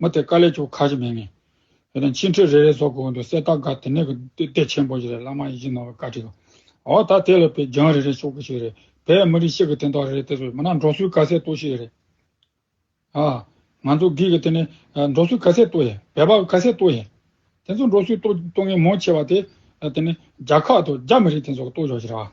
མོ་དེ་ཀ་ལས་ཀྱོ་ཁ་ཅིག་མེད་ངེས། དེ་ནས་མཆིན་ཁྲི་རེ་རེ་སོགས་ཀྱི་དབང་དུ་གསེར་རྟ་འགའ་དེ་ནས་ཀྱི་ལྟས་ཆེན་པོ་ཞིག་རེད་བླ་མ་ཡིད་བཞིན་ནོར་བའི་བཀའ་ཁྲིད། འོ་ད་དེ་ལས་པའི་རྒྱང་རེ་རེ་ཤོག་གི་ཞིག་རེད་བས་མི་རིགས་ཤིག་གི་དན་ཐོག་རེ་རེ་དེ་ཚོས་མིན་ན་འབྲོག་སུའི་ག་ཟེ་ཏོ་ཞིག་རེད། ཨ། ང་ཚོ་གིས་གི་དེ་ནི་འབྲོག་སུའི་ག་ཟེ་ཏོ་ཡིན་བལ་པ་གི་ག་ཟེ་ཏོ་ཡིན། དེ་ཚོ་འབྲོག་སུའི་ཏོ་ཏོ་ངན་མོ་ཆེ་བ་དེ་དེ་ནི་རྒྱ་ཁག་ཏུ་རྒྱ་མི་རིགས་དེ་ཚོ་གི་ཏོ་ཞོག་ཞིག་རེད་བ།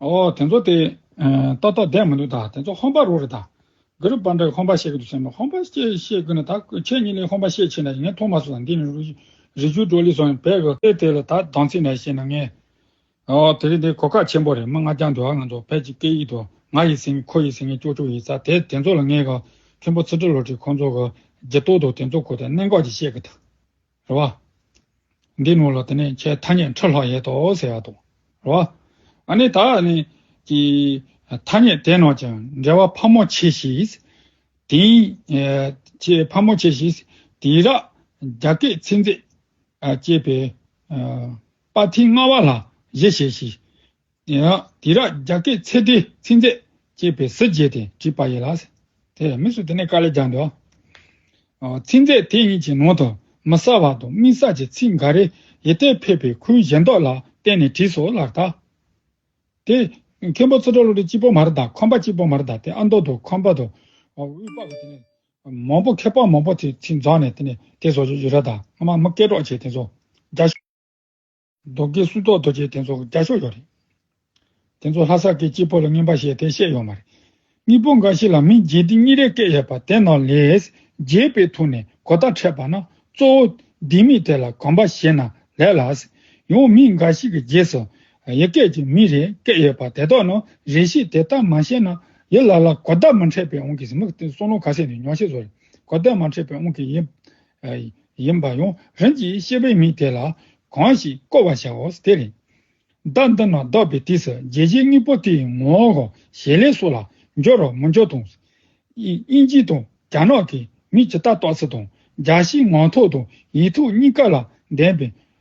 ཨོ། དེ་ཚོ་དེ། ཏོག་ཏོག་བསྡད་མི་འདུག་ད། དེ་ཚོ་ཧོམ་པ་རུ་རེད་ད། ག་རུ་པར་འདྲ་ཧོམ་པ་བཤད་གི་འདུག་བསམ་ན་ཧོམ་པ་བཤད་བཤད་ཀི་ན་ད་ཁྱེད་གཉིས་ལས་ཧོམ་པ་བཤད་ཆེ་ན་ཡིན་ན་ཐོག་མ་སུ་དང་འདི་ནི་རུ་རི་ཆུ་གྲོ་ལི་སོགས་ཡིན་བལ་གོ། དེ་དེ་ལ་ད་སྡང་ཚིག་ནས་བཤད་ན་ངས། ཨོ། དེ་རིང་འདི་གོ་སྐབས་ཆེན་པོ་རེད་མི་ལྔ་རྐྱང་འདུག་ཨ་ང་ཚོ་བལ་གྱི་སྐད་ཡིག་ཏུ་ང་ཡི་སེང་གེ་ཁོ་ཡི་སེང་གེ་ཅོག་ཅོག་ཡིན་ས་དེ་དེ་ཚོ་ལ་ངས་ག། མཁན་པོ་ཚེ་ཁྲི་ལོ་ཁྲི་ཁོང་ཚོ་ག། རྗེ་སྟོད་དུ་དེ་ཚོ་གོ་ད་གནད་འགག་ཅིག་བཤད་གི་ད། རེད་བ། འདི་ནོར་ལ་དེ་ནས་ཁྱེད་ཐ་སྙད་འཕྲོ་ལྷག་ཡེད་དོ་ཟེར་བ་དང། རེད་བ། ཨ་ནི་ད་ནི། ཀྱི། ཐ་སྙད་དེ་རྣམས་ཀྱང་འབྲེལ་བ་ཕ་མོ་ཆེ་ཞིག། དིང། ཅེས་ཕ་མོ་ཆེ་ཞིག། དིང་ར། རྒྱ་སྐད་ཚིག་མཛེས། ཅེས་པའི། པ་དྷིའི་སྔ་བ་ལ་གཞི་བྱས་ཤིང། དེ་ཡང་དེ་ར་རྒྱ་སྐད་ཚེ་ཏའི་ཚིག་མཛད་ཅེས་པའི་གཟི་བརྗིད་དེ་བྲིས་པ་ཡིན་ལ། དེ་མིན་སུ་དེ་ནས་དཀའ་ལས་རྒྱག་འདོད། ཚིག་མཛད་དེ་གཉིས་ཀྱི་ནང་དུ་མི་གསལ་བ་དང་དམིགས་བསལ་གྱི་ཚིག་འགའ་རེ་ཡི་གཏེར་ཕེབས་པའི་ཁུལ་གཞན་དག་ལ་བརྟེན་ནས་བྲིས་སོ་ལགས་ད། དེ་མཁན་པོ་ཚུར་གྲགས་ལུགས་འདི་གཅིག་པོ་མ་རེད་ད་ཁམས་པ་གཅིག་པོ་མ་རེད་ད་དེ་ཨ་མདོ་དང་ཁམས་པ་དང་དབུས་པ་གི་དེ་ནས་མང་པོ་མཁས་པ་མང་པོ་དེ་ཚིག་འཛགས་ནས་དེ་ནས་དེ་བཟོ་རྒྱུ་ཡོད་རེད་ད་སྔ་མ་མི་སྐད་གྲོགས་བྱས་དེ་བཟོ་རྒྱ། རྡོ་སྐས་སུ་གཏོགས་རྡོ་སྐས་དེ་ཚོ་བརྒྱ་ཤོག་ཡོད་རེད། དེ་ཚོ་ལྷ་ས་སྐད་སྤྱི་པོ་ལ་ངན་པ་བཤད་དེ་བཤད་ཡོད་མ་རེད། གཉིས་པོ་འགའ་ཞིག་ལ་མི་རྗེ་འདི་གཉིས་རེ་སྐད་ཡོད་པ་དེ་ནང་ལས། རྗེས་པའི་ཐུགས་ནས་གོ་བརྡ་འཕྲད་པ་ན་གཙོ་བོ། འདི་མི་དེ་ལ་གོམས་པ་བཞེས་ན་ལེགས་ལ། ཡང་མི་འགའ་ཞིག་གི་རྗེས་སུ། ཡི་སྐད་ཀྱི་མི་རེ་སྐད་ཡོད་པ་དེ་དག་ནང་རེ་ཞིག་དེ་ལྟར་མ་བཤད་ན། ཡི་ལ་ལ་གོ་བརྡ་མ་འཕྲད་པའི་དབང་གིས་མི་གསུང་ལུང་ག་ཚད་ནས་ཉོག་བཤད་བཟོ་རེད། གོ་བརྡ་མ་འཕྲད་པའི་དབང་གིས་ཡིན། ཡིན་པ་ཡང་རིམ་གྱིས་ཤེས་པས་མི་དེ་ལ་གང་ཞིག་བསྐོར་བར་བྱའོ་དེ་ལས། བདག་འདི་ན་བདག་པའི་དུས་སུ་རྒྱལ་བྱེད་གཉིས་པོ་དེའི་ངོ་བོ་ཞལ་ལས་སོགས་ལ་འབྱོར་རོ་མི་འབྱོར་དང། དབྱིན་ཇི་དང་རྒྱ་ནག་གི་མིས་ཇི་ལྟར་རྟོགས་ཚུལ་དང་སྦྱར་ཞིང་ངག་ཐོག་དང་ཡིག་ཐོག་གཉིས་ཀ་ལ་ལྡན་པའི་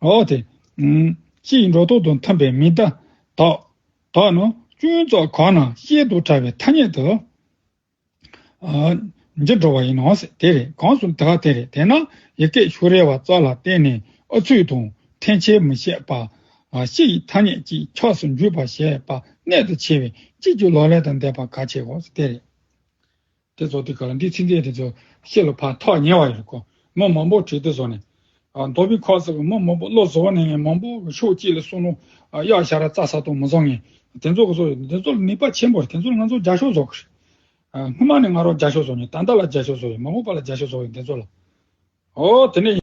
འོ་དེ། ཅིའི་འགྲོ་ལྡོག་དང་འཐམས་པའི་མིང་བརྡ། དག། དག་ནི། ཅུང་ཙག་གང་ན་ཤེས་དུ་ཕྲ་བའི་ཐ་སྙད་དུ། འཇིག་འགྲོ་བ་ཡིན་ནོ། དེ་རེད་གང་སུ་དག་དེ་རེད་དེ་ན་ཡི་གེ་ཤུ་རེ་བ་ཙག་ལ་བརྟེན་ནས་ཨ་ཚུགས་དང་འཐེན་འཁྱེར་མི་བྱེད་པ། ཤི་ཡི་ཐ་སྙད་ཅིག་ཆགས་སུ་འཇུག་པར་བྱེད་པ་གནད་དུ་ཆེ་བས་གཅིག་གྱུར་ལོག་ལས་དང་ལྡན་པ་གལ་ཆེའོ། དེ་རེད། དེ་རྫོགས་ཏེ་གང་འདི་ཚིག་འདི་དེ་ཚོ་ཤེས་ལ་ཕ་ཐག་ཉེ་བ་ཡོད་གོ། མི་མང་པོ་བྲིས་ཏེ་བཟོ་ནས། མདོ་དཔེ་ཁག་ཟེར་བ་མི་མང་པོ་བློ་བཟོ་བ་ནས་མང་པོ་ཕྱོགས་གཅིག་ལ་གསུང་རུང། གཡག་ཞར་ར་ཙག་ས་དོ་མི་བཟོ་ངེས། དེ་ཚོ་ག་ཚོད་ཡོད་དེ་ཚོ་ལ་ནུས་པ་ཆེན་པོ་རེད་དེ་ཚོ་ལ་ང་ཚོ་རྒྱ་ཤོག་བཟོ་གི་རེད། སྔོན་མ་ནས་ང་རོ་རྒྱ་ཤོག་བཟོ་ནས་ད་ལྟ་ལ་རྒྱ་ཤོག་བཟོ་ཡོད་མ་འོངས་པ་ལ་རྒྱ་ཤོག་བཟོ་ཡོད་དེ་ཚོ་ལ། ཨོ་དེ་ནས།